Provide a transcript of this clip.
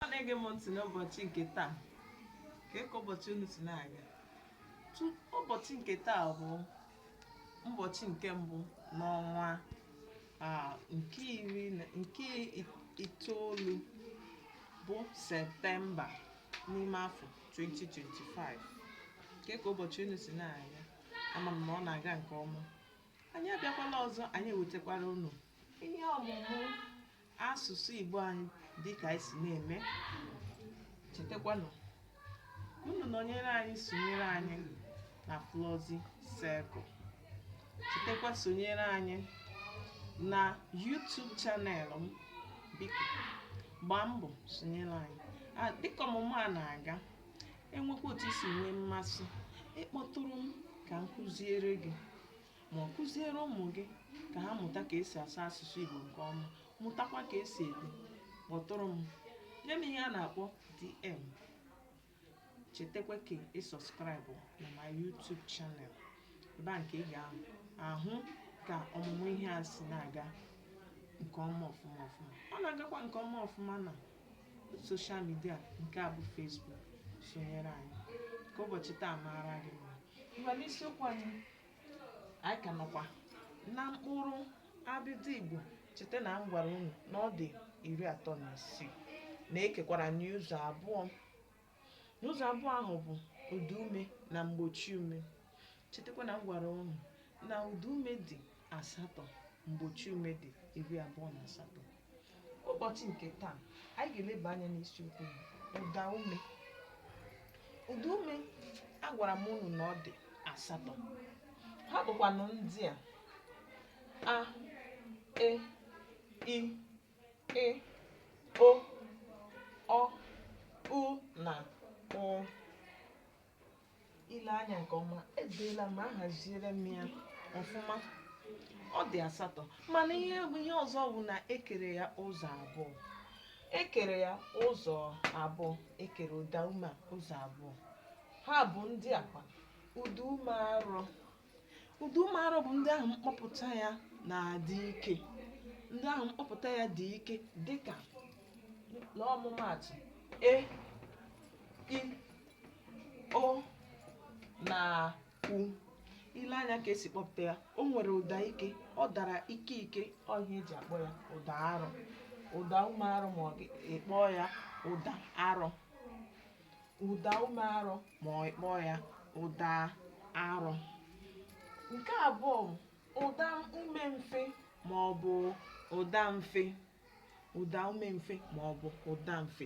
na-ege m ntị n'ụbọchị nke taa kee ka ụbọchị unu si na-aga Tu- ụbọchị nke taa bụ ụbọchị nke mbụ n'ọnwa a, nke iri na- nke i- itoolu bụ septemba n'ime afọ 2025 kee ka ụbọchị unu si na-aga ama m na ọ na-aga nke ọma anyị abịakwala ọzọ anyị ewetakwara unu ihe ọmụmụ asụsụ Igbo anyị dịka anyị si na-eme chetakwanụ unu nọnyere anyị sonyere anyị na Flọzi Circle chetakwa sonyere anyị na YouTube channel m biko gbaa mbọ sonyere anyị dịka ọmụmụ a na-aga enwekwa otu i si nwee mmasị ịkpọtụrụ m ka m kụziere gị ma ọ kụziere ụmụ gị ka ha mụta ka esi asụ asụsụ Igbo nke ọma mụtakwa ka esi ede kpọtụrụ m nye m ihe a na-akpọ DM chetakwa ka ị subscribe na my YouTube channel ebe a nke ị ga-ahụ ka ọmụmụ ihe a si na-aga nke ọma ọfụma ọfụma ọ na-agakwa nke ọma ọfụma na social media nke a bụ Facebook sonyere anyị ka ụbọchị taa maara gị mma ngwa n'isiokwu anyị anyị ka nọkwa na mkpụrụ abịdị Igbo cheta na m gwara unu na ọ dị iri atọ na isii na ekekwara n'ụzọ abụọ n'ụzọ abụọ ahụ bụ ụda ume na mgbochi ume chetakwa na m gwara unu na ụda ume dị asatọ mgbochi ume dị iri abụọ na asatọ ụbọchị nke taa anyị ga-eleba anya n'isiokwu ụda ume ụda ume agwara m unu na ọ dị asatọ ha bụkwanụ ndị a a e i ị o ọ u na ụ i lee anya nke ọma edeela m ahaziere m ya ọfụma ọ dị asatọ mana ihe ọzọ bụ na ekere ya ụzọ abụọ ekere ya ụzọ abụọ ekere ụda ume ụzọ abụọ ha bụ ndị a kwa ụda ume arọ ụda ume arọ bụ ndị ahụ mkpọpụta ya na-adị ike ndị ahụ mkpọpụta ya dị ike dịka n'ọmụmaatụ e i o na u i lee anya ka esi kpọpụta ya o nwere ụda ike ọ dara ike ike ọ ihe eji akpọ ya ụda arọ ụda ume arọ ma ọ ị kpọọ ya ụda arọ ụda ume arọ ma ọ kpọọ ya ụda arọ nke abụọ ụda ume mfe ma ọ bụ ụda mfe ụda ume mfe ma ọ bụ ụda mfe